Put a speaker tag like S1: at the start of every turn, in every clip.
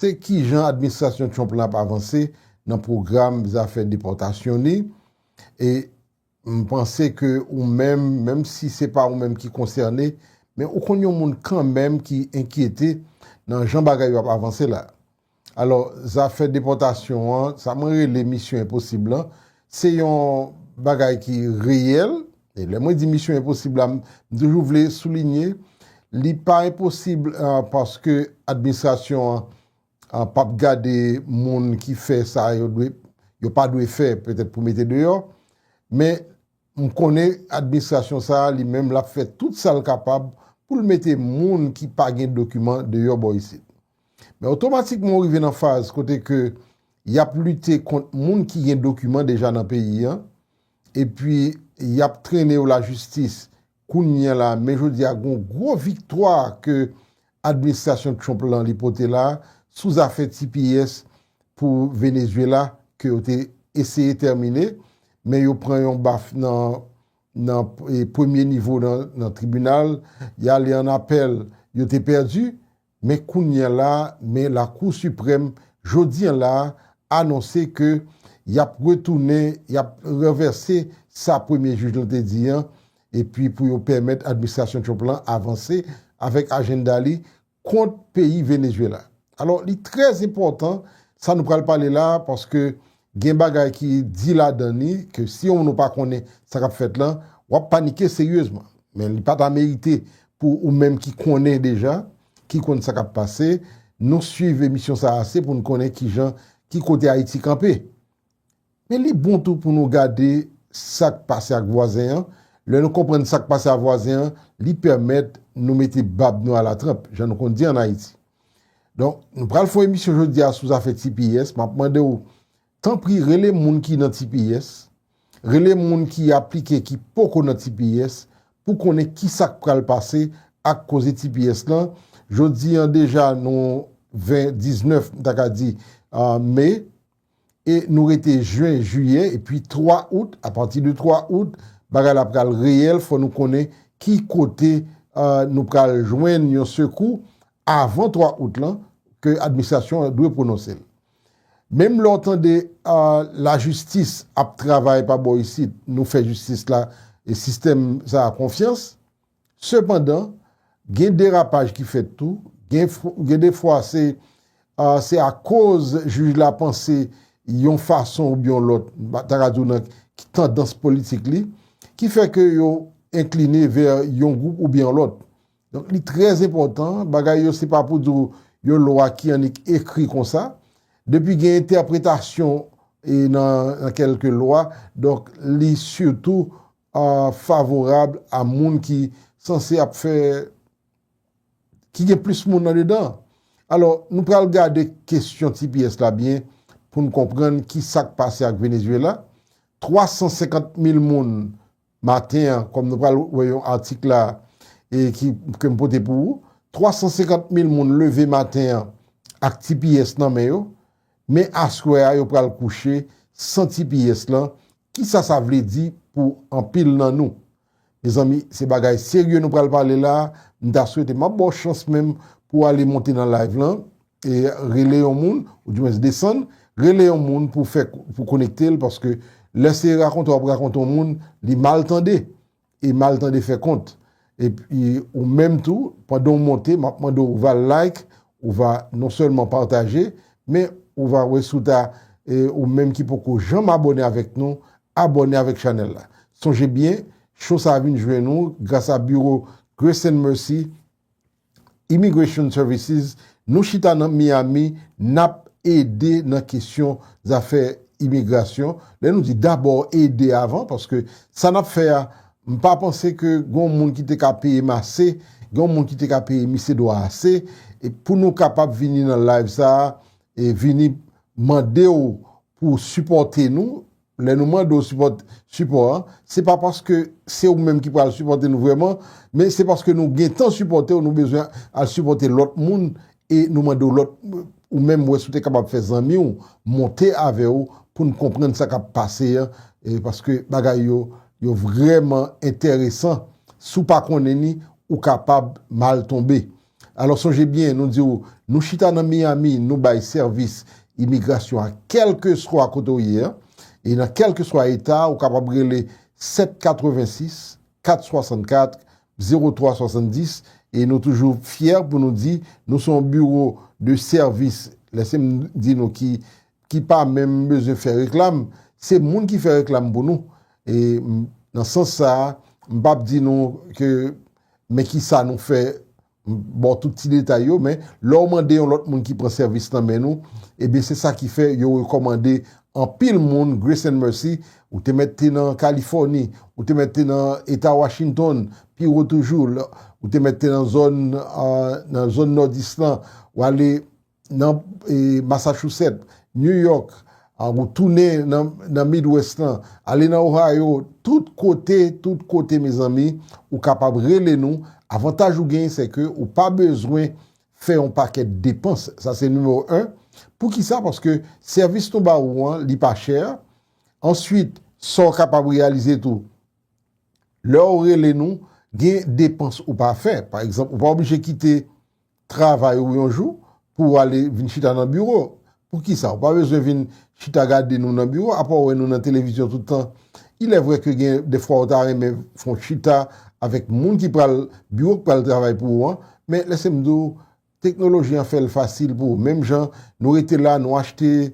S1: Se kijan administrasyon Trump la ap avanse nan pwogram zafè depòtasyon li, e m panse ke ou menm, menm si se pa ou menm ki konsène, men ou konn yon moun kanmenm ki enkyete nan jan bagay yo ap avanse la. Alò, zafè depòtasyon an, sa mwen rele misyon enposib lan, se yon bagay ki reyèl, E lè mwen di misyon enposib la, m toujou vle soulinye, li pa enposib paske administrasyon an p ap gade moun ki fè sa yo dwe, yo pa dwe fè petèt pou mete deyò, men m konnen administrasyon sa a li menm l ap fè tout sa l kapab pou l mete moun ki pa gen dokiman deyò bò isit. Men otomatikman ou rive nan faz kote ke y ap lite kont moun ki gen dokiman deja nan peyi an, Epi yap trene yo la jistis. Kounyea la men jodia gon gwo viktwa ke administrasyon Trump lan li pote la sou zafè tps pou Venezuela ke yo te eseye tèmine men yo pran yon baf nan nan premye nivo nan tribunal ya ale an apèl yo te pèdi Men kounyea la a men la kou siprèm jodyen la a anonse ke yap retounen yap ranvèse sa premye jij lan te di an epi pou yo pèmèt administrasyon Trump lan avanse avèk ajenda li kont peyi Venezuela. Alò li trè enpòtan sa nou pral pale la a paske gen bagay ki di ladan li ke si yon moun ou pa konnen sa kap fèt lan, wap panike seryezman. Men li pa ta merite pou ou menm ki konnen deja, ki konn sa kap pase, nou swiv emisyon sa ase pou nou konnen ki jan, ki kote Ayiti kanpe. Men li bon tou pou nou gade sak pase ak vwazen an, lè nou konprann sak pase a vwazen an, li pèmèt nou mete bab nou a la tranp, jan nou konn di an Ayiti. Donk, nou pral fon emisyon jodi a sou zafè tps, map mande ou, tanpri rele moun ki nan tps, rele moun ki aplike ki poko nan tps, pou konnen ki sak pral pase ak koze tps lan, jodi an deja nou 20, 19, m ta ka di, mai, e nou rete jen, jiyè epi 3 out, apati de 3 out bagay la pral reyèl fò nou konnen ki kote nou pral jwenn yon sekou avan 3 out lan ke administrasyon an dwe pwononse l. Menm lè w tande lajistis ap travay pa bò isit, nou fè jistis la e sistèm sa a konfyans. Sepandan, gen derapaj ki fèt tou, gen de fwa se se akoz jij la panse yon fason oubyen yon lòt, m ta ka di w nan tandans politik li, ki fè ke yo enkline vè yon gwoup oubyen yon lòt. Donk li trè enpòtan, bagay yo se pa pou di w yon lwa ki annik ekri konsa, depi gen entèpretasyon nan kèlke lwa, donk li sitou favorab a moun ki sanse ap fè, ki gen plis moun andedan. Alò, nou pral gade kesyon tps la byen pou n konprann ki sa k pase ak Venezuela. 350 mil moun maten an, kòm nou pral wè yon atik la e ke m pote pou ou, 350 mil moun leve maten an ak tps nan men yo, men aswè a yo pral kouche san tps lan Kisa sa vle di pou anpil nan nou? Mezanmi se bagay serye nou pral pale la, m ta swete map baw chans menm pou w ale monte nan live lan e rele yon moun ou di mwens desann rele yon moun pou w fè pou w konekte l paske lè se rakonte wap rakonte yon moun li mal tande e mal tande fè kont epi ou menm tou pandan ou monte map mande ou va like ou va non sèlman pataje men ou va wè si ou ta ou menm ki poko janm abòne avèk nou abòne avèk chanèl la sonje byen cho sa vin jwenn ou gras a biwo Grace and Mercy Immigration Services, nou chita nan Miami, n ap ede nan kesyon zafè imigrasyon. Lè nou di dabò ede avan, paske sa n ap fè a, m pa panse ke gen yon moun ki te ka peye m ase, gen yon moun ki te ka peye Misye Dwa ase, pou nou kapab vini nan live sa a, e vini mande w pou w sipòte nou, Lè nou mande w sipòt, sipò a, se pa paske se ou menm ki pral sipòte nou vrèman, men se paske nou gentan sipòte w, nou bezwen al sipòte lòt moun e nou mande w lòt ou menm wè si w te kapab fè zanmi w monte avè w pou n konprann sa k ap pase an paske bagay yo yo vrèman enteresan. Si w pa konnen ni, ou kapab mal tonbe. Alò sonje byen nou di w nou chita nan Miami nou bay sèvis imigrasyon a kèlkeswa kote w ye an e nan kèlkeswa eta a ou kapab rele 786 464 0370 e nou toujou fyè pou nou di nou se yon biwo de sèvis lèse m di nou ki ki pa menm bezwen fè reklam se moun ki fè reklam pou nou e m nan sans sa a m p ap di nou ke. Men kisa nou fè, m ba w tout ti detay yo, men lè w mande yon lòt moun ki pran sèvis nan men nou, ebyen se sa ki fè yo rekòmande anpil moun Grace and Mercy, ou te mèt te nan Kalifòni, ou te mèt te nan eta Washington, pi wo toujou, ou te mèt te nan zòn nan zòn Nòdis lan, w ale nan Massachusetts, New York, ou tounen nan Midwest lan, ale nan Ohio, tout kote, tout kote mezanmi, ou kapab rele nou, avantaj ou genyen se ke ou pa bezwen fè yon pakèt depans, sa se nimewo 1, poukisa, paske sèvis nou ba ou an li pa chè, answit sa ou kapab reyalize tou, lè ou rele nou, gen depans ou pa fè, pa egzanp ou pa oblije kite travay ou yon jou pou ou ale vin chita nan biwo. Poukisa ou pa bezwen vin chita gade nou nan biwo apa w wè nou nan televizyon tout tan? Ilèvre ke gen dèfwa ou ta renmen fè yon chita avèk moun ki pral biwo ki pral travay pou ou an, men lese m di w teknoloji an fè l fasil pou ou. Menm jan nou rete la nou achte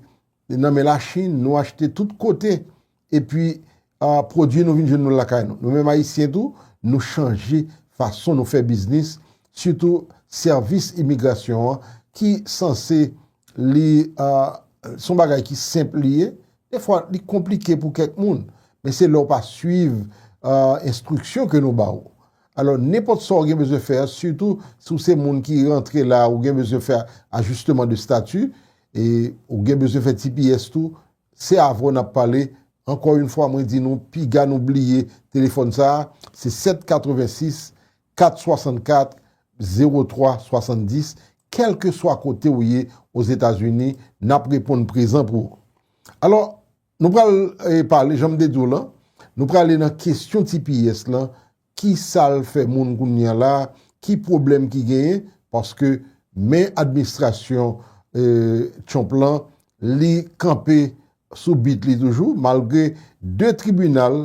S1: nan men Lachin, nou achte tout kote. Epi pwodui nou vin jwenn nou lakay nou. Nou menm Ayisyen tou, nou chanje fason nou fè biznis, sitou sèvis imigrasyon an ki sanse li son bagay ki senp li ye, defwa li konplike pou kèk moun. Men se lè ou pa swiv enstriksyon ke nou ba ou. Alò, nenpòt sa ou gen bezwen fè, sitou si ou se moun ki rantre la, ou gen bezwen fè ajisteman de stati, ou gen bezwen fè tps tou, Se avè w n ap pale. Ankò yn fwa mwen di nou piga nou bliye telefòn sa a se 7 86 464 03 70 kèlkeswa kote w ye ozetazini n ap reponn prezan pou ou. Alò nou pral pale jan m te di w lan nou prale nan kesyon tps lan Kisal fè moun kounya la, ki pwoblèm ki genyen, paske men administrasyon Trump lan li kanpe sou bit li toujou malgre 2 tribinal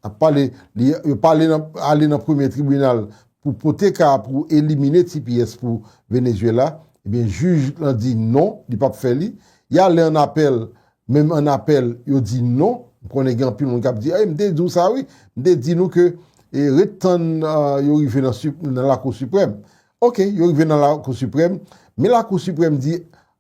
S1: ap pale li yo pa ale nan premye tribinal pou pote ka pou elimine tps pou Venezuela, ebyen jij lan di non li pap fè li, ya ale an apèl menm an apèl yo di non, m konnen gen anpil moun kap di a, e m te di w sa wi, m te di nou ke ret tann yo rive nan lakou siprèm, ok yo rive nan lakou siprèm, men lakou siprèm di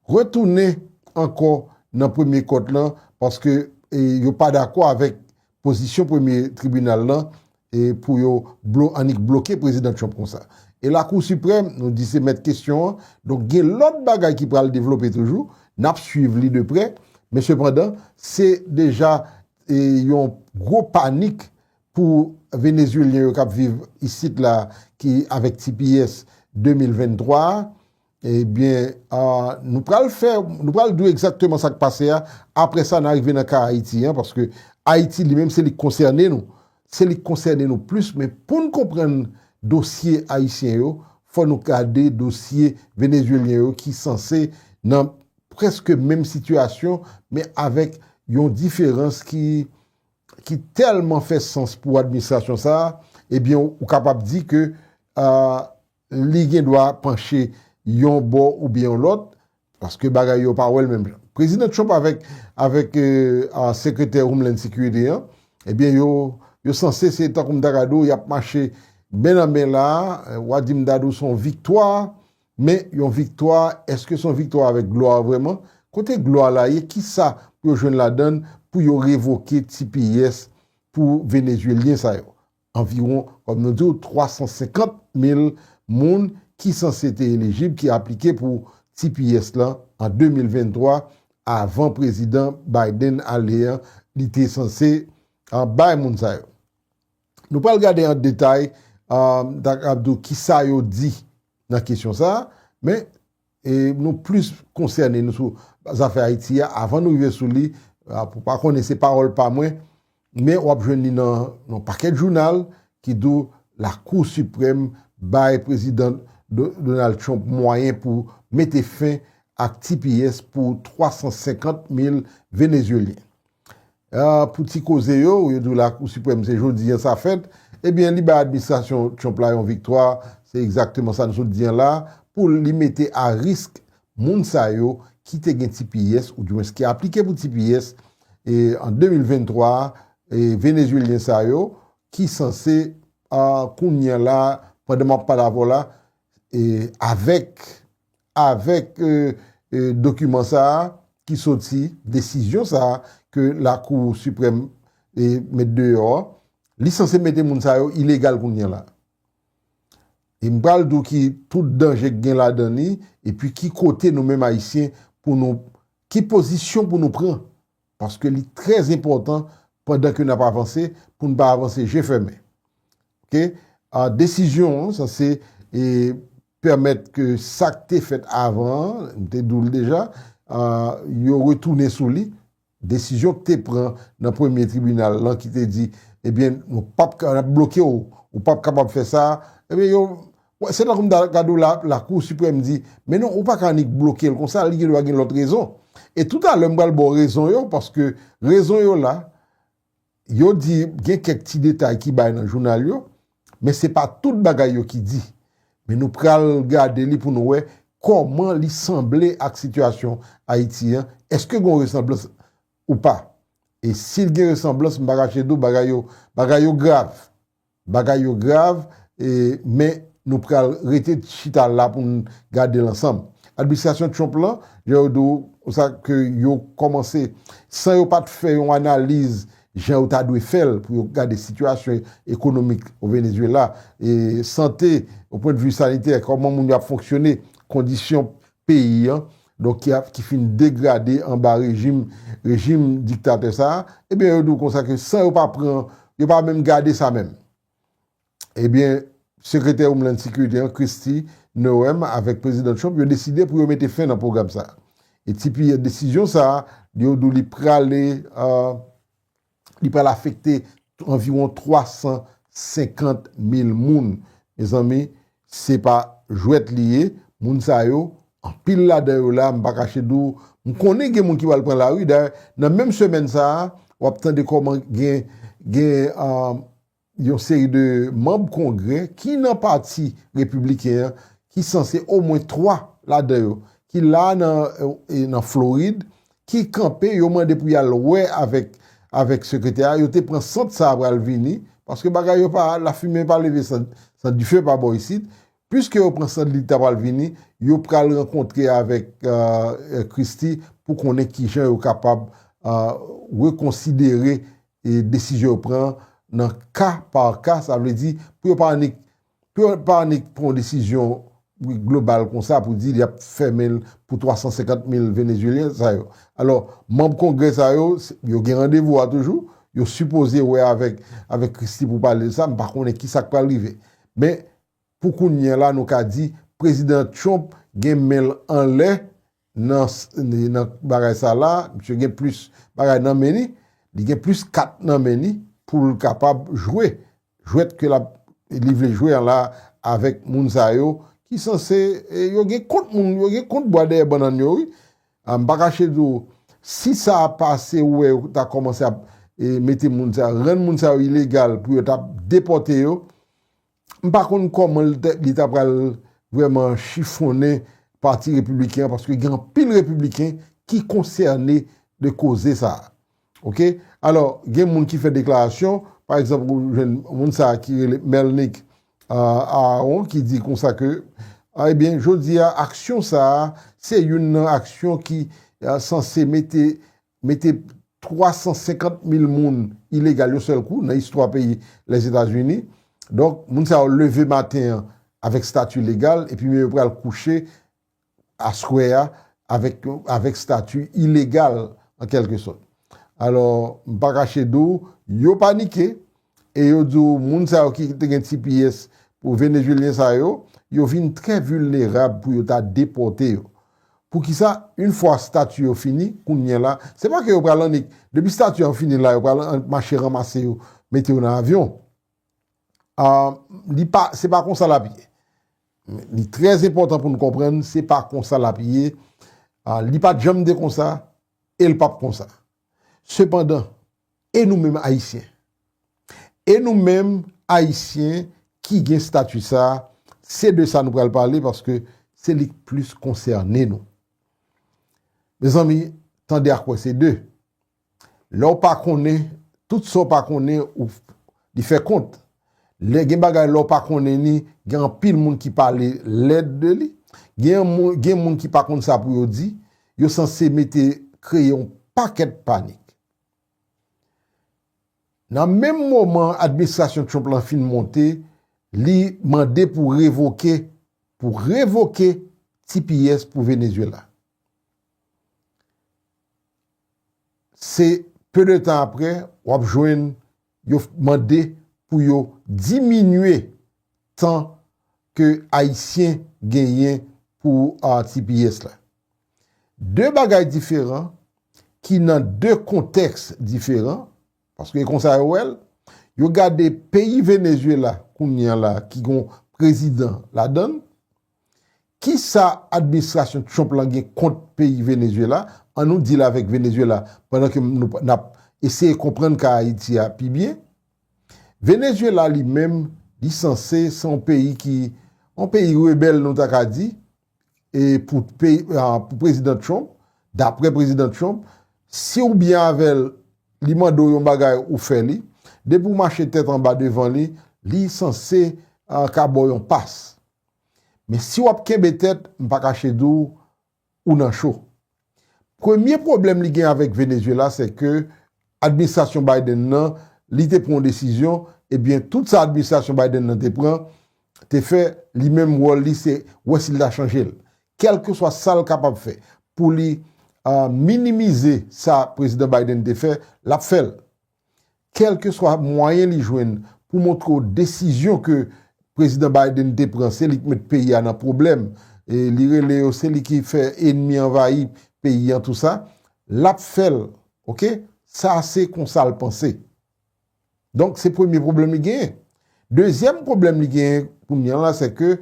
S1: retounen ankò nan premye kòt lan paske yo pa dakò avèk Pozisyon premye tribinal lan e pou yo blo annik bloke Prezidan Trump konsa. E Lakou Siprèm, nou di se mèt kesyon an, donk gen lòt bagay ki pral devlope toujou, n ap swiv li de prè, men sepandan, se deja e yon gwo panik pou Venezyelyen yo k ap viv isit la ki avèk tps 2023 a, Ebyen nou pral fè, nou pral di w egzakteman sa k pase a, aprè sa n a rive nan ka Ayiti an, paske Ayiti li menm se li k konsène nou, se li k konsène nou plis, men pou n konprann dosye ayisyen yo, fò nou gade dosye venezuelyen yo ki sanse nan prèske menm sitiyasyon, men avèk yon diferans ki ki tèlman fè sans pou administrasyon sa a, ebyen ou kapab di ke Li gen dwa panche yon bò oubyen yon lòt, paske bagay yo pa wè l menm jan. Prezidan Trump avèk avèk sekretè Homeland Security an, ebyen yo yo sanse se tankou m ta gad ou y ap mache men nan men la a, w a di m gad ou s on viktwa, men yon viktwa, èske s on viktwa avèk glwa vrèman? Kote glwa la ye? Kisa pou yo jwenn ladan l pou yo revoke tps pou Venezuelyen sa yo? Anviwon, kòm nou di w, 350 mil moun ki sanse te elijib ki aplike pou tps lan an 2023 avan Prezidan Biden ale an, li te sanse bay moun sa yo. Nou pral gade an detay, m ta kapab di w kisa yo di nan kesyon sa a, men E nou plis konsène nou sou zafè Ayiti a avan nou rive sou li, pou pa konnen se pawòl pa mwen, men wap jwenn li nan yon pakèt jounal ki di w la kou siprèm bay prezidan Donald Trump mwayen pou mete fen ak tps pou 350 mil Venezuelyen. Pou ti koze yo, yo di w Lakou Siprèm se jodi an sa fèt, ebyen li bay administrasyon Trump la yon viktwa, se egzakteman sa n sot di an la, pou li mete a risk moun sa yo ki te gen tps, oudiwens ki aplike pou tps an 2023, Venezyelyen sa yo ki sanse kounye a la, pandan m ap pale avè w la, avèk. avèk dokiman sa a ki soti, desizyon sa a ke lakou siprèm met deyò an, li sanse mete moun sa yo ilegal kounye la. E m pral di w ki tout danje k gen ladan li, epi ki kote nou menm Ayisyen pou nou, ki pozisyon pou nou pran, paske li trè enpòtan pandan ke n ap avanse, pou n pa avanse je fèmen. Ok, desizyon an sanse pèmèt ke sa k te fèt avan an, m te di w l deja, yo retounen sou li. Desizyon k te pran nan premye tribinal lan ki te di, ebyen, nou pap ka, n ap bloke w, ou pap kapab fè sa, ebyen yo, se tankou m ta gade w la, lakou siprèm di, men non, ou pa ka annik bloke l konsa, li gendwa gen lòt rezon. E toutalè m pral ba w rezon yo, paske rezon yo la, Yo di gen kèk ti detay ki bay nan jounal yo, men se pa tout bagay yo ki di. Men nou pral gade li pou nou wè kòman li sanble ak sitiyasyon Ayiti an, èske gon resanblans ou pa? E si l gen resanblans m pa kache di w bagay yo bagay yo grav. Bagay yo grav e men nou pral rete chita la pou n gade l ansanm. Administrasyon Trump lan, jan yo di w sa ke yo kòmanse san yo pa t fè yon analiz jan yo ta dwe fè l pou yo gade sitiyasyon ekonomik o Venezuela, sante o pwendvi sanitè, kòman moun yo ap fonksyone, kondisyon peyi an, donk ki ap ki fin degrade anba rejim rejim diktatè sa a, ebyen yo di w konsa ke san yo pa pran, yo pa menm gade sa menm. Ebyen Sekretè Homeland Security an, Kristi Noem avèk Prezidan Trump yo deside pou yo mete fen nan pwogram sa a. E tipi desizyon sa a, yo di w li prale Li pral afekte anviwon 350 mil moun. Mezanmi, se pa jwèt li ye. Moun sa yo, anpil ladan yo la, m pa kache di w, m konnen gen moun ki pral pran lari. Dayè, nan menm semèn sa a, w ap tande kòman gen yon seri de manb Kongrè ki nan pati Repibliken an ki sanse omwen 3 ladan yo ki la a nan Florid ki kanpe yo mande pou y al wè avèk avèk Sekretè a yo te pran sant sa a pral vini paske bagay yo pa lafimen pa leve san dife pa bò isit piske yo pran sant li ta pral vini yo pral rankontre avèk Christie pou konnen kijan yo kapab rekonsidere desizyon yo pran nan ka pa ka, sa vle di pou yo pa annik pou yo pa annik pran yon desizyon global kon sa pou di y ap fèmen l pou 350 mil Venezyelyen sa yo. Alò, manm kongrè sa yo, yo gen randevou a toujou, yo sipoze wè avèk avèk Christie pou pale de sa, m pa konnen ki sa k pral rive. Men, pou kounye a la nou ka di Prezidan Trump gen men l anlè nan nan bagay sa la misye gen plis bagay nan men li li gen plis kat nan men li poul kapab jwe jwèt ke lap li vle jwe an la avèk moun sa yo ki sanse yo gen kont moun yo gen kont bwa dèyè bannann yo wi a m pa kache di w si sa pase ou wè yo ta kòmanse ap mete moun sa yo rann moun sa yo ilegal pou yo ta depòte yo M pa konn kòman li ta pral vrèman chifonnen pati repibliken an paske gen anpil repibliken ki konsène de koze sa a. Ok, alò gen moun ki fè deklarasyon, pa egzanp ou jwenn moun sa a ki rele Melnick Aaron ki di konsa ke ebyen jodi a aksyon sa a se youn nan aksyon ki sanse mete mete 350 mil moun ilegal yon sèl kou nan istwa peyi Lèzetazini. Donk, moun sa yo leve maten an avèk stati legal epi men yo pral kouche aswè a avèk stati ilegal an kèlke sòt. Alò, m pa kache di w, yo panike, e yo di w moun sa yo ki te gen tps pou Venezuelyen sa yo, yo vin trè vilnerab pou yo ta depòte yo. Poukisa yn fwa stati yo fini, kounyè la, se pa ke yo pral annik, depi stati an fini la yo pral annik mache ranmase yo, mete yo nan avyon. Ahh li pa, se pa konsa l ap ye. Li trè enpòtan pou n konprann se pa konsa l ap ye, li pa t janm te konsa e l p ap konsa. Sepandan. E nou menm Ayisyen? E nou menm Ayisyen ki gen stati sa, se de sa nou pral pale paske se li k plis konsène nou. Mezanmi, tande ak wè se de. Lè w pa konnen, tout sa w pa konnen ou li fè kont. Lè gen bagay lè w pa konnen ni, gen anpil moun ki pale lèd de li. Gen moun ki pa konn sa pou yo di, yo sanse mete kreye yon pakèt panik. Nan menm moman administrasyon Trump lan fin monte, li mande pou revoke pou revoke tps pou Venezuela. Se pe de tan apre, wap jwenn Yo mande pou yo diminye tan ke Ayisyen genyen pou tps la. De bagay diferan ki nan de kontèks diferan, paske e konsa yo wè l, yo gade peyi Venezuela kounye a la ki gon prezidan ladan l, Kisa administrasyon Trump lan gen kont peyi Venezuela, an nou deal avèk Venezuela pandan ke nou nap eseye konprann ka Ayiti a pi byen. Venezuela li menm li sanse se yon peyi ki yon peyi rebèl nou ta ka di e pou peyi pou prezidan Trump daprè prezidan Trump si ou byen avèl li mande w yon bagay ou fè li depi w mache tèt anba devan li li sanse ka ba w yon pas. Men si w ap kenbe tèt, m pa kache di w, ou nan cho. Premye pwoblèm li gen avèk Venezyela se ke administrasyon Biden nan, li te pran yon desizyon, ebyen tout sa administrasyon Biden nan te pran, te fè, li menm wòl li se wè si l ta chanje l. Kèlkeswa sa l kapab fè pou li minimize sa prezidan Biden te fè, l ap fè l. Kèlkeswa mwayen li jwenn pou montre w desizyon ke Prezidan Biden te pran se li k met peyi a nan pwoblèm, li rele yo se li ki fè enmi anvayi peyi an tou sa, l ap fè l ok, sa se konsa l panse. Donk se premye pwoblèm li genyen. Dezyèm pwoblèm li genyen kounye la se ke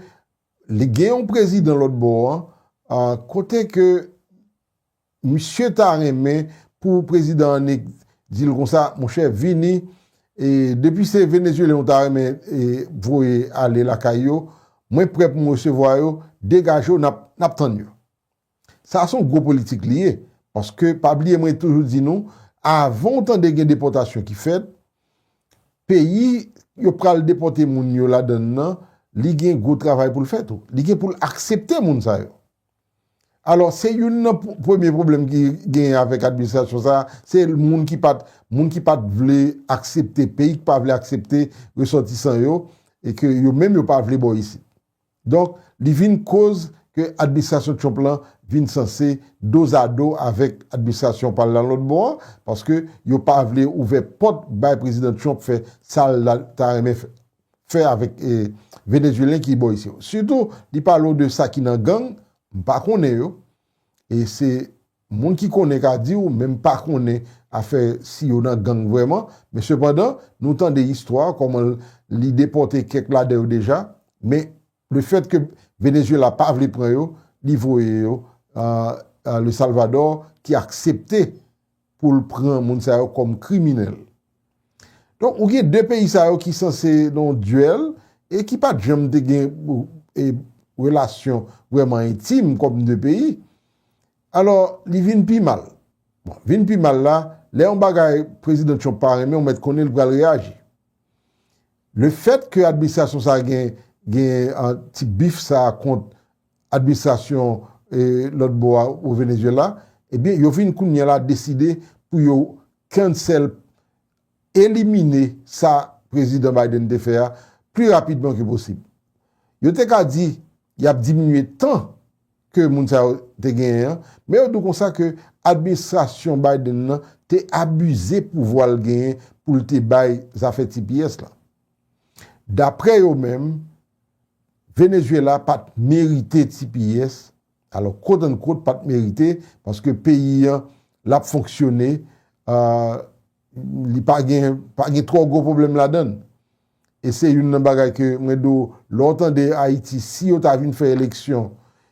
S1: li gen yon prezidan lòtbò an kote ke Misye ta renmen pou prezidan an neg di l konsa monchè vini e depi se Venezuelen ou ta renmen voye ale lakay yo mwen prè pou m resevwa yo degaje w nap tann yo sa son gwo politik li ye paske pa bliye mwen toujou di nou avan w tande gen depòtasyon ki fèt peyi yo pral depòte moun yo ladann nan li gen gwo travay pou l fè tou li gen pou l aksepte moun sa yo. Alò, se youn nan premye pwoblèm ki genyen avèk administrasyon sa a, se moun ki pa t, moun ki pa t vle aksepte, peyi ki pa vle aksepte resòtisan yo, e ke yo menm yo pa vle bò isit. Donk, li vin koz ke administrasyon Trump lan vin sanse dozado avèk administrasyon pa l lan lòt bò an, paske yo pa vle ouvè pòt bay Prezidan Trump fè sa l ta renmen fè. fè avèk Venezuelyen ki bò isi yo. Sitou li pale w de sa ki nan gang, m pa konnen yo, e se moun ki konnen ka di w, men m pa konnen afè si yo nan gang vrèman, men sepandan nou tande istwa kòman li depòte kèk ladan yo deja, men le fèt ke Venezuela pa vle pran yo, li voye yo a Le Salvador ki aksepte pou l pran moun sa yo kòm kriminèl. Donk ou gen 2 peyi sa yo ki sanse nan yon duèl e ki pat janm te gen relasyon vrèman entim kòm 2 peyi. Alò li vin pi mal. Bon, vin pi mal la, lè yon bagay Prezidan Trump pa renmen ou mèt konnen l pral reyaji. Lefèt ke administrasyon sa gen gen ti bif sa kont administrasyon lòt bò a o Venezuela, ebyen yo vin kounye la deside pou yo cancel, elimine sa Prezidan Biden te fè a pli rapidman ke posib. Yo te ka di y ap diminye tan ke moun sa yo te genyen an, men yo di w konsa ke administrasyon Biden nan te abize pouvwa l genyen pou l te bay zafè tps la. Daprè yo menm, Venezuela pa t merite tps, alò quote unquote pa t merite paske peyi an l ap fonksyone, li pa gen pa gen twò gwo pwoblèm ladan l. E se youn nan bagay ke mwen di w, lè w tande Ayiti, si yo ta vin fè eleksyon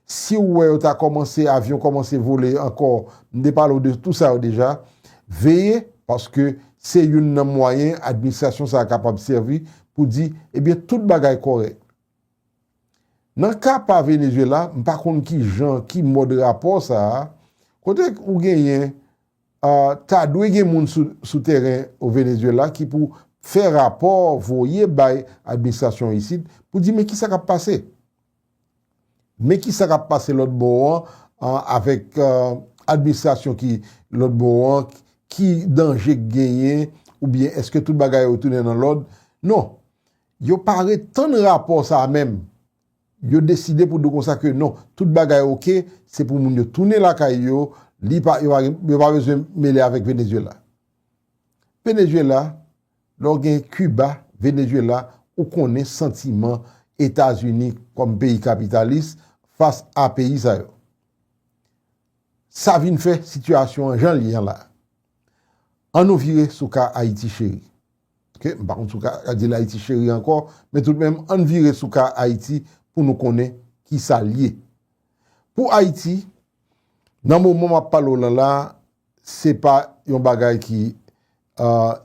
S1: Siw wè yo ta kòmanse avyon kòmanse vole ankò m te pale w de tou sa yo deja veye paske se youn nan mwayen administrasyon sa kapab sèvi pou di ebyen tout bagay kòrèk. Nan ka pa Venezuela m pa konn ki jan ki mòd rapò sa kote ou genyen ta dwe gen moun sou tèren o Venezuela ki pou fè rapò voye bay administrasyon isit pou di men kisa kap pase. Men kisa kap pase lòt bò an avèk administrasyon ki lòt bò an, ki danje k genyen oubyen eske tout bagay yo tounen nan lòd? Non, yo pa ret tann rapò sa a menm, yo deside pou di konsa ke non, tout bagay ok, se pou moun yo tounen lakay yo, yo pa bezwen mele avèk Venezuela. Venezuela, Lè w gen Kiba, Venezyela, ou konnen santiman Etazini kòm peyi kapitalis fas a peyi sa yo. Sa vin fè sitiyasyon an jan l ye an la. An nou vire sou ka Ayiti cheri. Ok, m pa konn si w ka di l Ayiti cheri ankò, men toutmenm an n vire sou ka Ayiti pou nou konnen ki sa l ye. Pou Ayiti, nan moman m ap pale w lan la, se pa yon bagay ki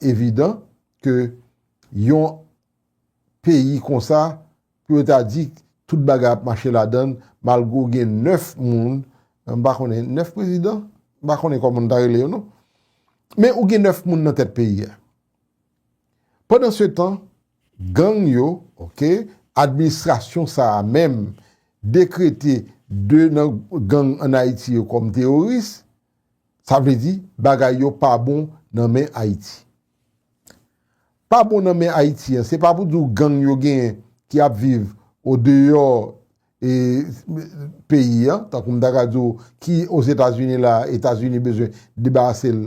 S1: evidan ke yon peyi konsa pou yo ta di tout bagay ap mache ladan l malgre w gen 9 moun, m pa konnen 9 prezidan? M pa konnen kòman nou ta rele yo non. Men ou gen 9 moun nan tèt peyi a. Pandan se tan, gang yo, ok, administrasyon sa a menm dekrete 2 nan gang an Ayiti yo kòm teworis, Sa vle di bagay yo pa bon nan men Ayiti. Pa bon nan men Ayiti an, se pa pou di w gang yo genyen ki ap viv odeyò peyi an, tankou m ta ka di w ki Ozetazini la a, Etazini bezwen debarase l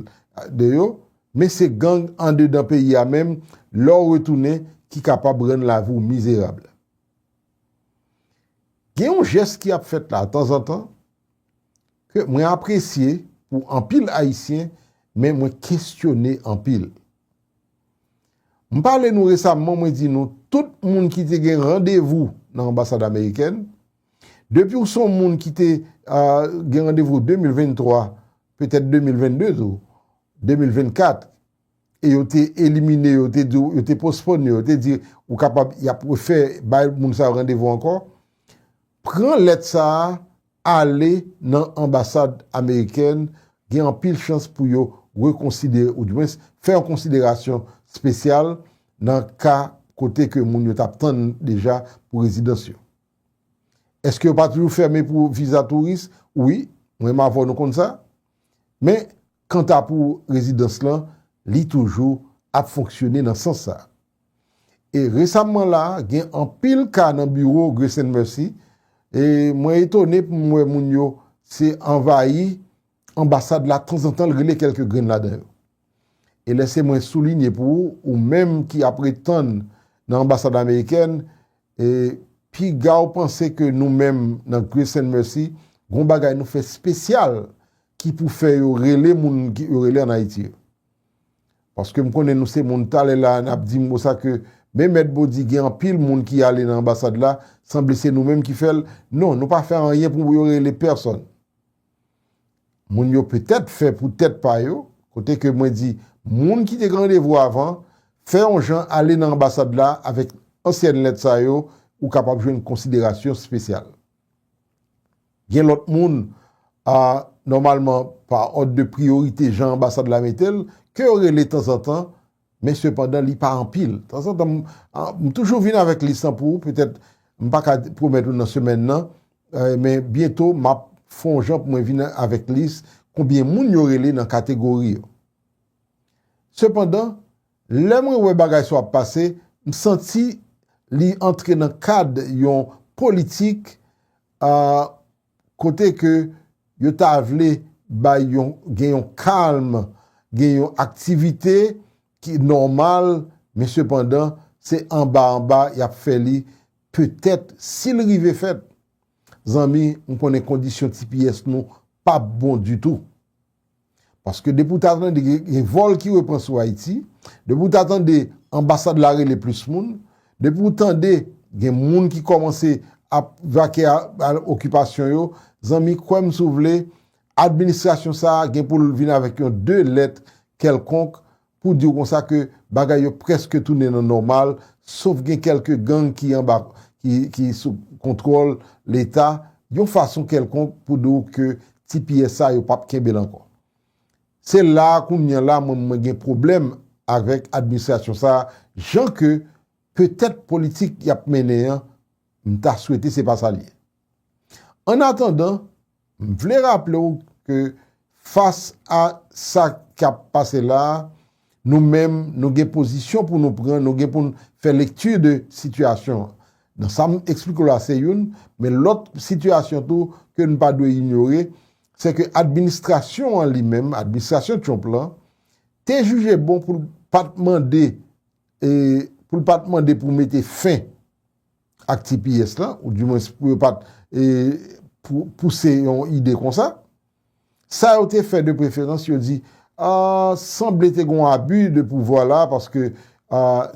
S1: de yo, men se gang andedan peyi a menm, lè w retounen, ki kapab rann lavi w mizerab. Gen yon jès ki ap fèt la, tanzantan, Ke mwen apresye pou anpil Ayisyen men mwen kesyone anpil. M pale nou resamman mwen di nou tout moun ki te gen randevou nan anbasad amerikèn, depi w son moun ki te gen randevou 2023, petèt 2022 tou, 2024, e yo te elimine yo, yo te di w, yo te pospòn yo, yo te di ou kapab y ap refè bay moun sa yo randevou ankò, pran lèt sa a ale nan anbasad amerikèn, gen anpil chans pou yo rekonsidere oudimwens fè yon konsiderasyon spesyal nan ka kote ke moun yo t ap tann deja pou rezidans yo. Eske yo pa toujou fèmen pou viza touris? Wi, mwen menm avè w nou konn sa. Men, kanta pou rezidans lan, li toujou ap fonksyone nan sans sa. E resamman la, gen anpil ka nan biwo Grace and Mercy, e mwen etone pou m wè moun yo se anvayi anbasad la tanzantan l rele kèlke grenn ladan yo. E lèse mwen soulinye pou ou, ou menm ki ap ret tann nan anbasad amerikèn, E pigaw panse ke nou menm nan Grace and Mercy gon bagay nou fè spesyal ki pou fè yo rele moun yo rele an Ayiti yo. Paske m konnen nou se moun talè la nap di m konsa ke men mèt Body gen anpil moun ki ale nan anbasad la sanble se nou menm ki fèl. Non, nou pa fè anyen pou yo rele pèsòn. Moun yo petèt fè pou tèt pa yo, kote ke mwen di moun ki te gen randevou avan, fè yon jan ale nan anbasad la avèk ansyèn lèt sa yo, ou kapab jwenn konsiderasyon spesyal. Gen lòt moun, a, nòmalman pa òd de priyorite jan anbasad la mete l, ke yo rele tanzantan Men sepandan li pa anpil. Tanzantan m toujou vin avèk lis lan pou ou, petèt m pa ka pwomèt ou nan semèn nan, men byento m ap fè yon jan pou mwen vin avèk lis konbyen moun yo rele nan kategori yo. Sepandan, lè mwen wè bagay sa yo ap pase, m santi li antre nan kad yon politik a, kote ke yo ta vle bay yon gen yon kalm, gen yon aktivite ki nòmal, men sepandan se anba anba y ap fè li, petèt si l rive fèt, zanmi m konnen kondisyon tps nou p ap bon ditou. Paske depi w ta tande gen vòl ki repran sou Ayiti, depi w ta tande anbasad la rele plis moun, depi w tande gen moun ki kòmanse ap vake a okipasyon yo, zanmi kwè m si w vle, administrasyon sa a gen pou l vin avèk yon de lèt kèlkonk Pou di w konsa ke bagay yo prèske tounen nan nòmal, sof gen kèlke gang ki anba ki sou kontwòl leta, yon fason kèlkonk pou di w ke ti pyès sa yo pap kenbe l ankò. Se la a kounya la mwen mwen gen pwoblèm avèk administrasyon sa a jan ke petèt politik y ap mennen an m ta swete se pa sa l ye. Annatandan. M vle raple w ke fas a sa k ap pase la, nou menm nou gen pozisyon pou nou pran, nou gen pou n fè lekti de sitiyasyon an. Nan sa m eksplike w la se youn, men lòt sitiyasyon tou ke n pa dwe inyore, se ke administrasyon an li menm, administrasyon Trump lan, te jije bon pou l pa t mande pou l pa t mande pou mete fen ak tps lan, ou di mwens pou yo pat pouse yon ide konsa. Sa yo te fè de preferans yo di, sanble te gon abi de pouvwa la, paske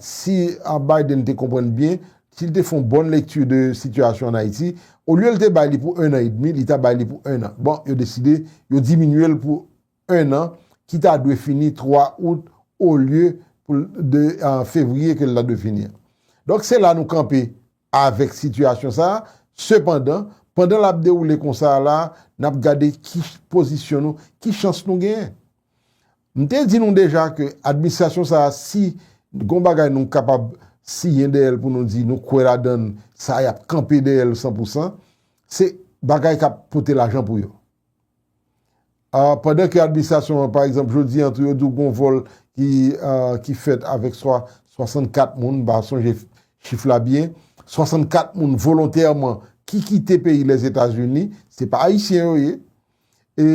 S1: si Biden te konprann byen, si l te fon bon lekti de sitiyasyon an Ayiti, olye l te bay li pou 1 an edmi, li ta bay li pou 1 an. Bon, yo deside, yo diminye l pou 1 an ki ta dwe fini 3 out olye pou l 2 fevriye ke l ta dwe fini an. Donk se la nou kanpe avèk sitiyasyon sa a. Sepandan, pandan l ap dewoule konsa a la a, n ap gade ki pozisyon nou, ki chans nou genyen. M te di nou deja ke administrasyon sa a si gon bagay nou kapab siyen dèyè l pou nou di nou kwè ladan l, sa y ap kanpe dèyè l san pou san, se bagay k ap pote lajan pou yo. Pandan ke administrasyon an, pa egzanp, jodi an tou yo di w gen yon vòl ki fèt avèk 64 moun, m pa sonje chif la byen, 64 moun volontèman ki kite peyi Lèzetazini, se pa Ayisyen yo ye, e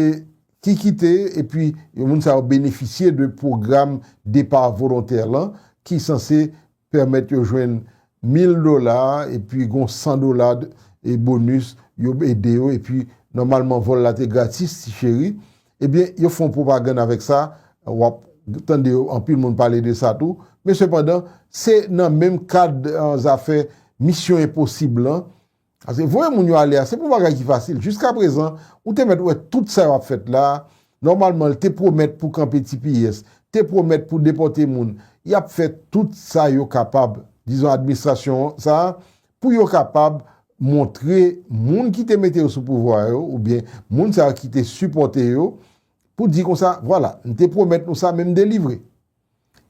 S1: ki kite, e pi moun sa yo benefisye de pwogram depa volontè lan ki sanse pèmèt yo jwenn 1000 dola epi gon 100 dola e bonus yo ede yo epi nòmalman vòl la te gratis ti cheri ebyen yo fon pwopagann avèk sa wap tande yo anpil moun pale de sa tou men sepandan se nan menm kad zafè misyon enposib lan Ase voye moun yo ale a se pou bagay ki fasil jiskaprezan ou te mèt wè tout sa yo ap fèt la a nòmalman l te pwomèt pou kanpe tps te pwomèt pou depòte moun y ap fè tout sa yo kapab dizon administrasyon sa a pou yo kapab montre moun ki te mete yo sou pouvwa a yo oubyen moun sa yo ki te sipòte yo pou di konsa vwala m te pwomèt nou sa men m delivre.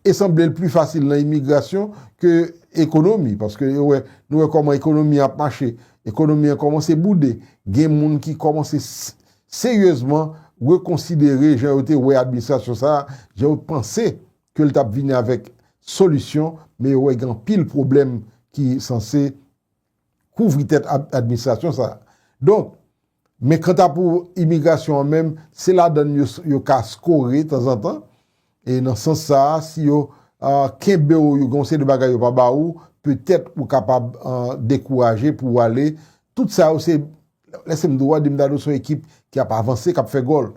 S1: E sanble l pli fasil nan imigrasyon ke ekonomi, paske yo wè, nou wè kòman ekonomi an ap mache, ekonomi an kòmanse boude, gen moun ki kòmanse seryezman rekonsidere jan yo te wè administrasyon sa a, jan yo t panse ke l t ap vini avèk solisyon, men yo wè gen anpil pwoblèm ki sanse kouvri tèt administrasyon sa a. Donk. Men kanta pou imigrasyon an menm, se ladan l yo ka skore tanzantan, e nan sans sa a, si yo kenbe w, yo gen yon seri de bagay yo pa ba ou, petèt ou kapab dekouraje pou w ale. Tout sa yo se, lèse m di w, Wade Mdado se yon ekip ki ap avanse, k ap fè gòl.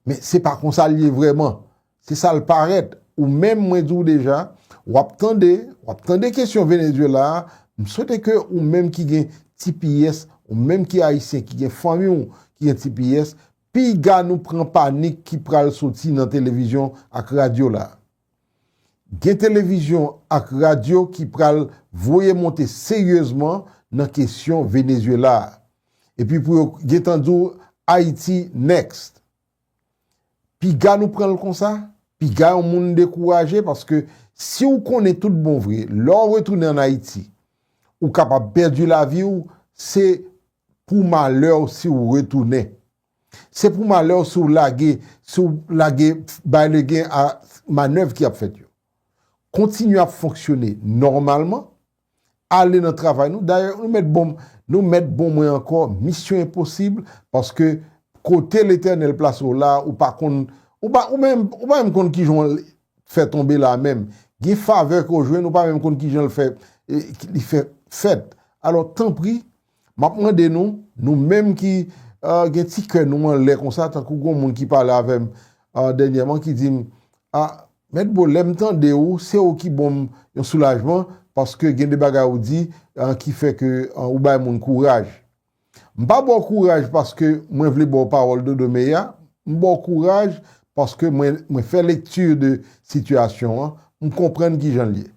S1: Men se pa konsa l ye vrèman. Se sa l parèt. Ou menm mwen di w deja, w ap tande, w ap tande kesyon Venezyela a, m swete ke ou menm ki gen tipiyès, ou menm ki Ayisyen, ki gen fanmi w ki gen tipiyès, piga nou pran panik ki pral soti nan televizyon ak radyo la a. Gen televizyon ak radyo ki pral voye monte seryezman nan kesyon Venezuela a. Epi pou yo gentan di w Ayiti next. Piga nou pran l konsa? Piga yon moun dekouraje paske si w konnen tout bon vre lè w retounen an Ayiti ou kapab pèdi lavi w se pou malè w si w retounen. Se pou malè w si w lage, si w lage bay legen a manèv ki ap fèt yo. Kontinye ap fonksyone nòmalman, ale nan travay nou, dayè nou mèt bon m, nou mèt bon mwen ankò, misyon enposib, paske kote Letènèl plase w la a, ou pa konn, ou pa, ou menm, ou pa menm konn ki jan w al fè tonbe la a menm. Gen favè ke w jwenn, ou pa menm konn ki jan l fè, li fè fèt. Alò, tanpri, Map mande nou, nou menm ki gen ti kè nou anlè konsa tankou gon moun ki pale avèm dènyèman ki dim a Mèt Bo lèm tande ou se ou ki bonm yon soulajman paske gen de bagay ou di ki fè ke ou bay moun kouraj. M pa baw kouraj paske mwen vle baw pawòl dodo meya, m baw kouraj paske mwen fè lekti de sitiyasyon an, m konprann kijan l ye.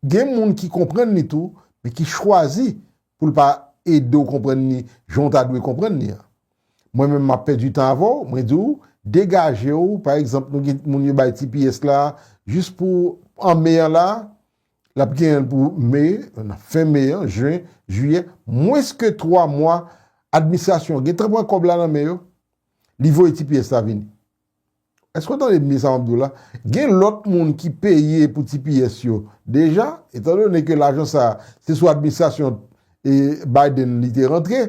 S1: Gen moun ki konprann li tou, men ki chwazi pou l pa ede w konprann li jan w ta dwe konprann li an. Mwen menm m ap pèdi tan avè w, mwen di w, degaje w, pa egzanp nou gen moun yo bay ti pyès la jis pou an me an la, l ap genyen l pou me, nan fen me an, jen, jiyè, mwens ke 3 mwa, administrasyon an gen tan pran kòb la nan men yo, li voye ti pyès la vini. Èske w tande byen sa m ap di w la? Gen lòt moun ki peye pou tps yo deja, etandone ke lajan sa a se sou administrasyon Biden li te rantre,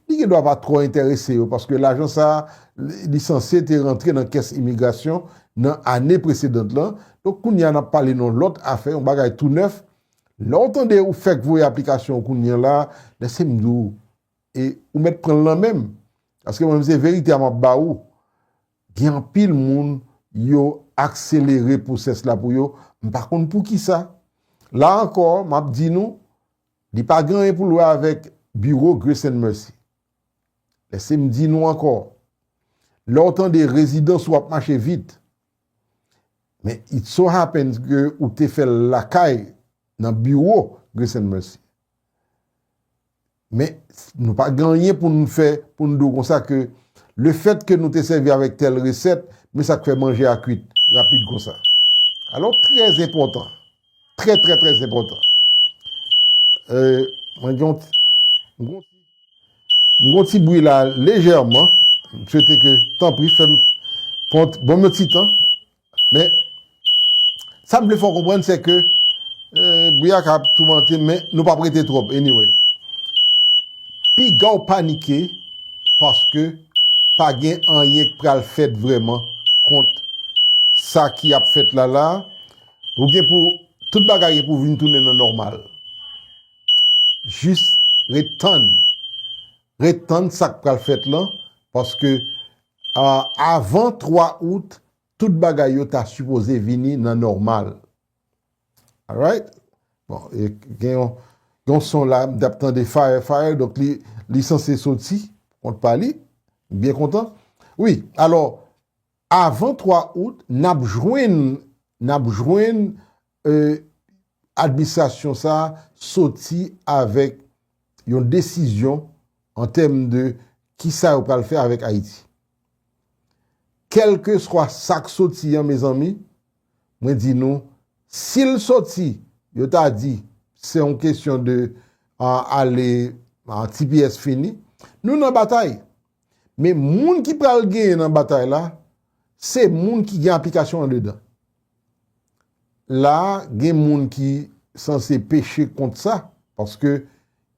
S1: li gen dwa pa twò enterese yo paske lajan sa a li sanse te rantre nan kès imigrasyon nan ane presedant lan. Donk kounye a n ap pale nan lòt afè, yon bagay tou nèf. Lè w tande ou fèk voye aplikasyon w kounye la, lèse m di w, E ou mèt pranl nan menm. Paske mwen menm se verite a map ba ou. Gen anpil moun yo akselere pwosès la pou yo, m pa konn poukisa. La ankò map di nou, li pa gen anyen pou l wè avèk biwo Grace and Mercy. Lèse m di nou ankò, lè w tande rezidans ou ap mache vit, men it so happens ke ou te fè l lakay nan biwo Grace and Mercy. Men, nou pa gen anyen pou nou fè, pou nou di w konsa ke le fèt ke nou te sèvi avèk tèl resèt, men sa k fè manje a kuit rapid konsa. Alò, trè enpòtan, trè trè trè enpòtan. Euh, mwen gen yon ti, mwen gen yon ti bwi la lejèman, m swete ke, tanpri fè m, pran yon ti tan, Men, sa m vle fè w konprann se ke bri a ka ap toumante m men nou pa p rete twòp anyway. Piga w panike paske pa gen anyen k pral fèt vrèman kont sa ki ap fèt la la. Ou gen pou tout bagay gen pou vin tounen nan nòmal. Jis ret tann. Ret tann sa k pral fèt lan paske Avan 3 out tout bagay yo ta sipoze vini nan nòmal alright bon gen yon son la m tap tande fire fire donk li sanse soti kont pa li m byen kontan wi alò avan 3 out nap jwenn nap jwenn Administrasyon sa a soti avèk yon desizyon an tèm de ki sa yo pral fè avèk Ayiti. Kèlkeswa sa k soti an mezanmi, mwen di nou, si l soti, yo ta di se yon kesyon de ale tps fini, nou nan batay. Men moun ki pral genyen nan batay la, se moun ki gen aplikasyon andedan. La a, gen moun ki sanse peche kont sa, paske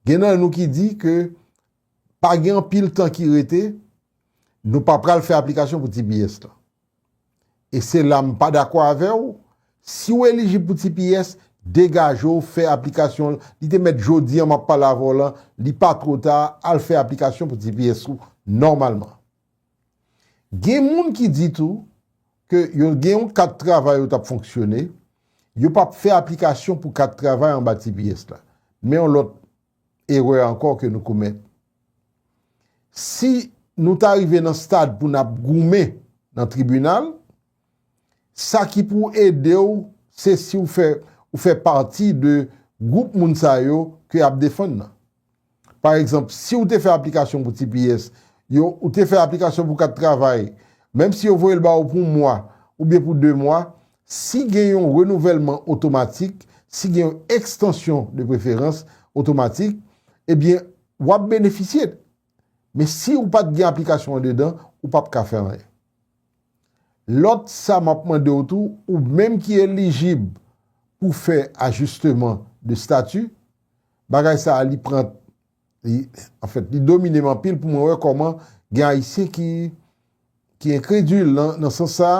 S1: gen nan nou ki di ke pa gen anpil tan ki rete, nou pa pral fè aplikasyon pou tps lan. E se la m pa dakò avè w, si w elijib pou tps, degaje w fè aplikasyon l, li te mèt jodi an m ap pale avè w lan, li pa two ta, al fè aplikasyon pou tps ou nòmalman. Gen moun ki di tou ke yo gen yon kat travay yo t ap fonksyone, yo p ap fè aplikasyon pou kat travay anba tps la. Men yon lòt erè ankò ke nou komèt. Si nou ta rive nan stad pou n ap goumen nan tribinal, Sa ki pou ede w se si w fè ou fè pati de gwoup moun sa yo ke y ap defann nan. Pa egzanp, si w te fè aplikasyon pou tps yo, ou te fè aplikasyon pou kat travay, menm si yo voye l ba ou pou mwa oubyen pou de mwa, si gen yon renouvèlman otomatik, si gen yon ekstansyon de preferans otomatik, ebyen w ap benefisye Men si ou pat gen aplikasyon andedan, ou pap ka fè anyen. Lòt sa map mande w tou, ou menm ki elijib pou fè ajisteman de stati, bagay sa li pran li anfèt li domine m anpil pou mwen wè kòman gen ayisyen ki ki enkredil nan sans sa,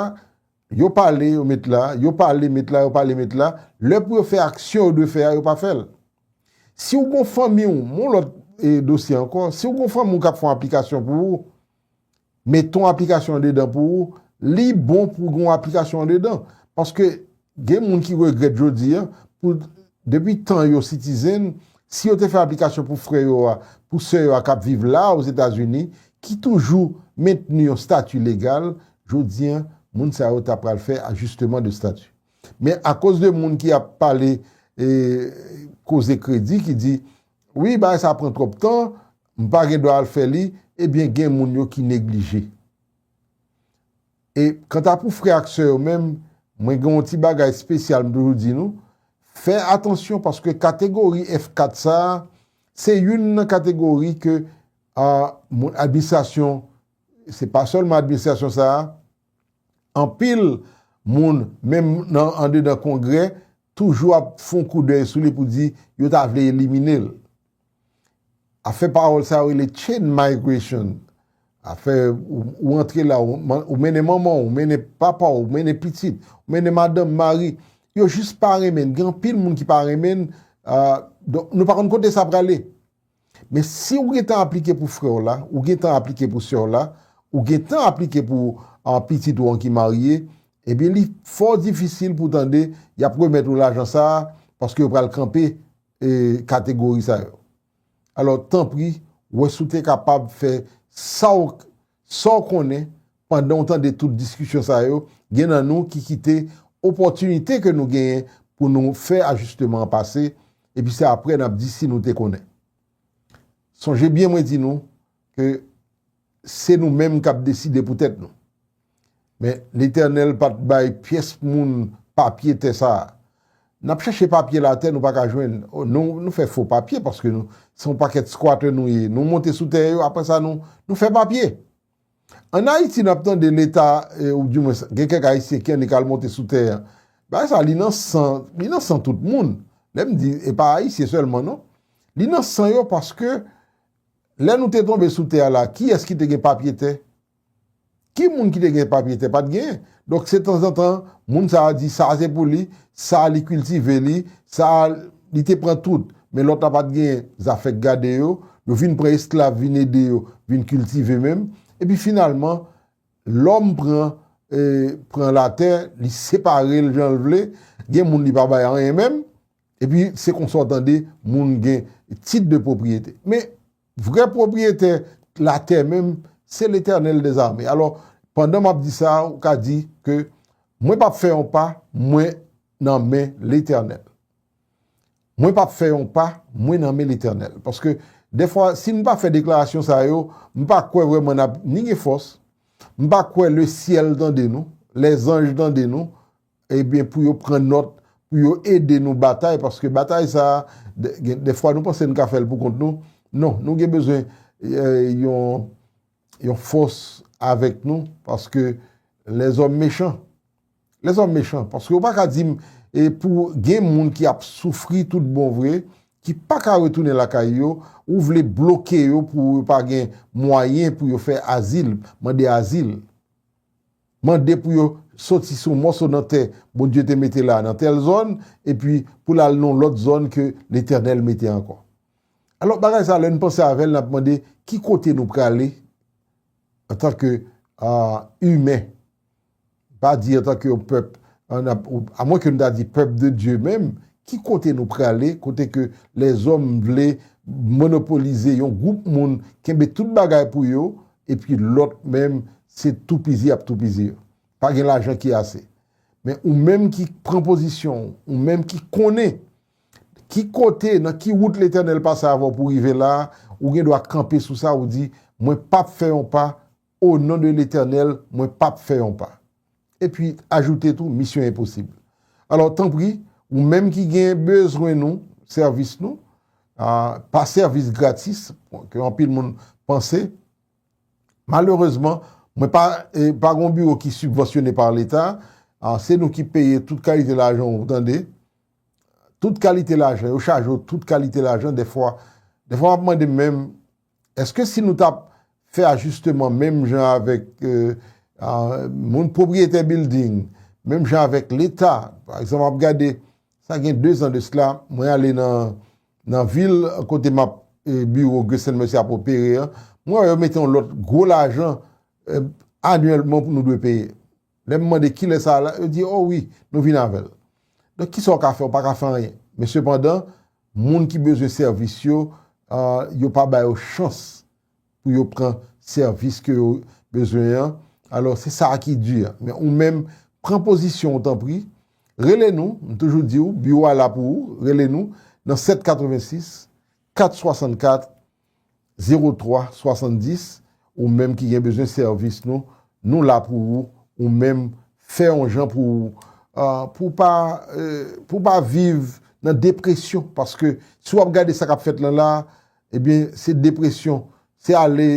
S1: Yo pale, yo met la, yo pale, met la, yo pale, met la, lè pou yo fè aksyon yo dwe fè a, yo pa fè l. Si w gon fanmi w, m on lòt dosye ankò, si w gon fanmi w k ap fè yon aplikasyon pou ou, mete yon aplikasyon andedan pou ou, li bon pou gen yon aplikasyon andedan. Paske gen moun ki regrèt jodi a pou Depi tan yo sitizen, si yo te fè aplikasyon pou frè yo a, pou sè yo a k ap viv la a Ozetazini, ki toujou mentni yon stati legal, jodi an, moun sa yo ta pral fè ajisteman de stati. Men akoz de moun ki ap pale koze kredi, ki di, wi bagay sa a pran twòp tan, m pa gen dwa al fè li, ebyen gen moun yo ki neglije. E kanta pou frè ak sè yo menm, mwen gen yon ti bagay spesyal m toujou di nou, fè atansyon paske kategori F4 sa, se youn nan kategori ke moun administrasyon, se pa sèlman administrasyon sa, anpil moun menm nan andedan kongrè toujou ap fon koudèy sou li pou di yo ta vle elimine l. Afè pawòl sa yo rele chain migration. Afè ou antre la, ou mennen manman w, ou mennen papa w, ou mennen pitit, ou mennen madanm, mari. Yo jis pa renmen n. Gen anpil moun ki pa renmen n. Donk nou pa konn kote sa prale. Men si ou gen tan aplike pou frè w la, ou gen tan aplike pou sè w la, ou gen tan aplike pou pitit ou an ki marye, ebyen li fò difisil pou tande y ap remèt ou lajan sa a paske yo pral kanpe kategori sa yo. Alò tanpri wè si w te kapab fè sa w sa w konnen pandan w tande tout diskisyon sa yo, gen nan nou ki kite opòtinite ke nou genyen pou nou fè ajisteman an pase, epi se apre n ap di si nou te konnen. Sonje byen mwen di nou, ke se nou menm kap deside pou tèt nou. Men Letènèl pat bay pyès moun papye tè sa a. Nap chèche papye latè nou paka jwenn. Nou fè fo papye paske nou se yon pakèt squatter nou ye. Nou monte sou tè yo apre sa nou fè papye. An Ayiti nap tande leta ou di mwens gen kèk Ayisyen ki annik al monte sou tè a. Bagay sa li nan san, li nan san tout moun. Lèm di e pa Ayisyen sèlman non. Li nan san yo paske Lè nou te tonbe sou tè a la, kiyès ki te gen papye tè? Ki moun ki te gen papye tè? Pa t gen. Donk, se tanzantan, moun sa a di sa a se pou li, sa a li kiltive li, sa a li te pran tout. Men lòt la pa t gen zafè k gade yo. Yo vin pran esklav vin ede yo vin kiltive menm. Epi finalman, lòm pran pran latè, li separe l jan l vle. Gen moun li pa bay anyen menm. Epi se konsa w tande moun gen tit de pwopriyete. Men, vrè pwopriyetè latè menm, se Letènèl dezame. Alò, pandan m ap di sa, ou ka di ke mwen p ap fè yon pa, mwen nan men Letènèl. Mwen p ap fè yon pa, mwen nan men Letènèl. Paske, defwa, si m pa fè deklarasyon sa yo, m pa kwè vreman n ap ni gen fòs, m pa kwè lesyèl tande nou, lèzanj tande nou, Ebyen pou yo pran nòt pou yo ede nou batay paske batay sa gen dèfwa nou panse nou ka fèl poukont nou non nou gen bezwen yon fòs avèk nou paske lèzòm mechan lèzòm mechan paske ou pa ka dim pou gen moun ki ap soufri tout bon vre ki pa ka retounen lakay yo ou vle bloke yo pou yo pa gen mwayen pou yo fè azil mande azil. Mande pou yo soti sou mòso nan tè Bondye te mete la nan tèl zòn, epi pou l al nan yon lòt zòn ke Letènèl mete ankò. Alò, bagay sa a, lè n panse avè l, n ap mande, ki kote nou prale antanke imen? M pa di antanke yon pèp, amwen ke n ta di pèp de Dye menm, ki kote nou prale kote ke lèzòm vle monopolize yon gwoup moun, kenbe tout bagay pou yo, epi lòt menm se toupizi yap toupizi yo. Pa gen lajan ki ase. Men ou menm ki pran pozisyon w, ou menm ki konnen ki kote, nan ki wout Letènèl pase avè w pou w rive la a, ou gen dwa kanpe sou sa ou di, mwen pap fè yon pa, onon de Letènèl, mwen pap fè yon pa. epi ajoute tou misyon enposib. Alò tanpri ou menm ki gen bezwen nou, sèvis nou, pa sèvis gratis ke anpil moun panse, malerezman mwen pa pa gon biwo ki sibvansyone pa leta, se nou ki peye tout kalite lajan ou tande, tout kalite lajan, yo chaje ou tout kalite lajan dèfwa, dèfwa map mande menm. Eske si nou tap fè ajisteman menm jan avèk moun pwopriyetè bilding, menm jan avèk leta, pa egzanp map gade sa gen 2 zan de sla mwen ale nan vil kote map biwo Gresèl Mèsi ap opere an, mwen wè yo mete yon lòt gwo lajan anyèlman pou nou dwe peye. Lè m mande kilè sa la, yo di o wi nou vin avèl. Donk kisa w ka fè, w pa ka fè anyen. Men sepandan, Moun ki bezwen sèvis yo, yo pa ba yo chans pou yo pran sèvis ke yo bezwen an, alò se sa a ki di a. Men ou menm, pran pozisyon ou tanpri, rele nou, m toujou di ou, biwo a la pou ou, rele nou nan 786 464 03 70 ou menm ki gen bezwen sèvis nou nou la pou ou ou menm fè yon jan pou ou pou pa pou ou pa viv nan depresyon paske si wap gade sa kap fèt lan la ebyen se depresyon se ale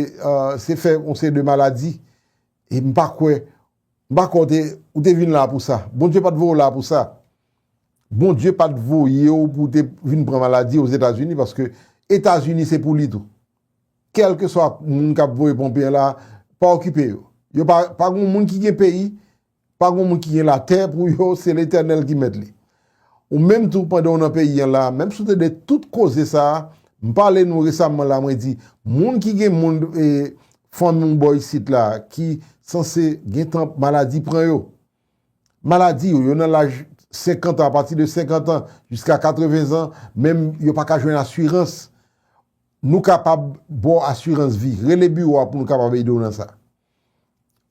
S1: se fè yon seri de maladi e m pa kwè M pa kwè w te, ou te vin la pou sa. Bondye pa t voye w la pou sa. Bondye pa t voye w pou w te vin pran maladi Ozetazini paske Etazini se pou li tou. Kèlkeswa moun k ap voye ponpe an la, pa okipe yo. Yo pa, pa gen yon moun ki gen peyi, pa gen yon moun ki gen latè pou yo, se Letènèl ki mèt li. Ou menm tou pandan w nan peyi an la, menm si w te de tout koze sa a, m pale nou resamman la mwen di, moun ki gen moun e fanmi w bò isit la ki sanse gen tan maladi pran yo. Maladi yo, yo nan laj 50 an, apati de 50 an jiska 80 zan, menm yo pa ka jwenn asirans, nou kapab ba w asirans vi. Rele biwo a pou nou kapab ede w nan sa.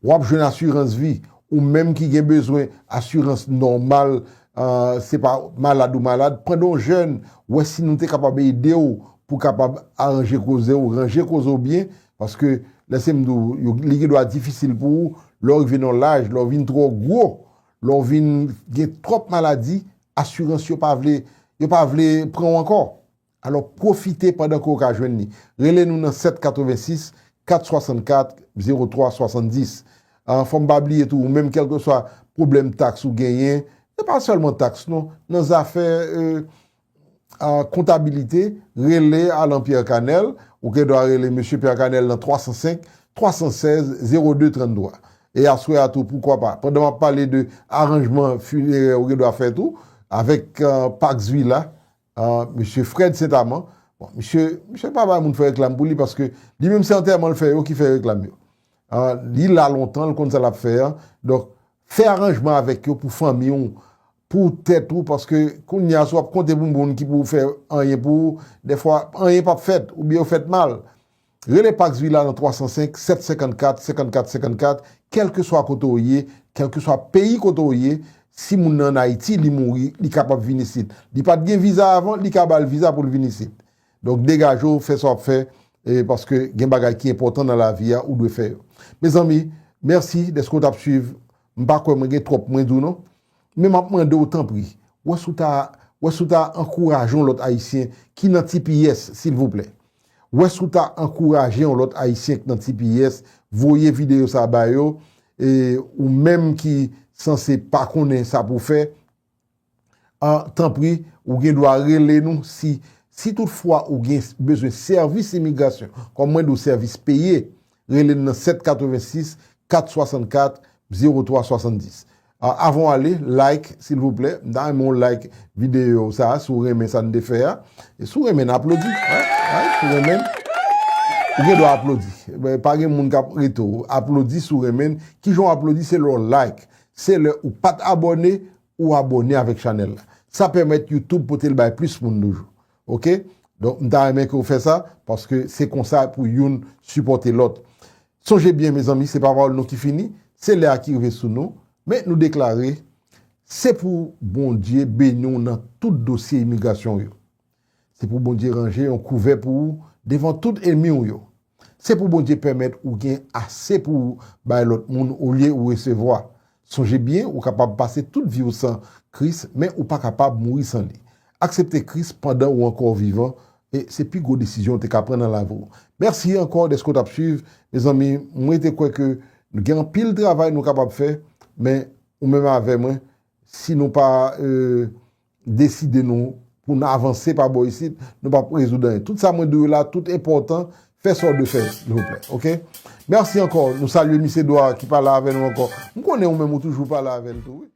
S1: Wap jwenn asirans vi, ou menm ki gen bezwen asirans nòmal, se pa malad ou malad, pandan w jèn, wè si nou te kapab ede w pou kapab aranje koze w, ranje koze w byen, paske lèse m di w, li gen dwa difisil pou ou, lè w rive nan yon laj, lè w vin twò gwo, lè w vin gen twòp maladi, asirans yo pa vle, yo pa vle pran w ankò. Alò pwofite pandan ke w ka jwenn li. Rele nou nan 786 464 03 70. An fò m pa bliye tou ou menm kèlkeswa pwoblèm taks ou genyen, se pa sèlman taks non, nan zafè kontabilite, rele Alan Pierre Canel, ou gen dwa rele Mesye Pierre Canel nan 305 316 02 33. E aswè a tou poukwa pa, pandan m ap pale de aranjman finerè ou gen dwa fè tou, avèk Pax Villa, Ahh mesye Fred Saint Amand bon misye misye pa bay moun fè reklam pou li paske li menm se antèman l fè yo ki fè reklam yo ahh li la lontan l konn sa lap fè an donk fè aranjman avèk yo pou fanmi w pou tèt ou paske kounye a si w ap konte pou moun ki pou fè anyen pou ou dèfwa anyen pap fèt oubyen yo fèt mal. Rele Pax Villa nan 305 754 54 54 kèlkeswa kote w ye, kèlkeswa peyi kote w ye, si moun nan an Ayiti li mouri li kapab vin isit, li pat gen viza avan li ka bal viza poul vin isit. Donk degaje w fè sa wap fè paske gen bagay ki enpòtan nan lavi a ou dwe fè yo. Mezanmi mèsi dèske w tap swiv m pa kwè mwen gen twòp mwen di w non Men map mande w tanpri, wè si w ta wè si w ta ankouraje yon lòt ayisyen ki nan tps silvouplè wè si w ta ankouraje yon lòt ayisyen ki nan tps voye videyo sa ba yo e ou menm ki sanse pa konnen sa pou w fè a tanpri ou gen dwa rele nou si si tout fwa ou gen bezwen sèvis imigrasyon kòm mwen di w sèvis peye Rele n nan 7 86 464 03 70 Avan w ale like silvouplè m ta renmen w like videyo sa si w renmen sa n te fè a Si w renmen n aplodi Si w renmen n Ou gen dwa aplodi Pa gen moun k ap rete w Aplodi si w renmen n Kijan w aplodi se lè w like Se lè ou pa t abòne ou abòne avèk chanèl la Sa pèmèt Youtube pote l bay plis moun toujou Ok donk m ta renmen ke ou fè sa paske se konsa pou youn sipòte lòt sonje byen mezanmi se pa pawòl nou ki fini se lè a ki rive sou nou men nou deklare se pou Bondye beni w nan tout dosye imigrasyon w yo se pou Bondye ranje yon kouvè pou ou devan tout enmi w yo. Se pou Bondye pèmèt ou gen ase pou ou bay lòt moun olye ou resevwa. Sonje byen ou kapab pase tout vi ou san Kris men ou pa kapab mouri san li. Aksepte Kris pandan ou ankò vivan se pi gwo desizyon ou te ka pran nan lavi ou. Mèsi ankò dèske ou t ap swiv. Mezanmi m rete kwè ke nou gen anpil travay nou kapab fè men ou menm avè mwen si nou pa deside nou pou n avanse pa bò isit nou pap rezoud anyen tout sa mwen di w la tout enpòtan fè sa w dwe fè silvouplè ok mèsi ankò nou salye mis Edouard ki pa la avè nou ankò m konnen ou menm ou toujou pa la avè n tou wi.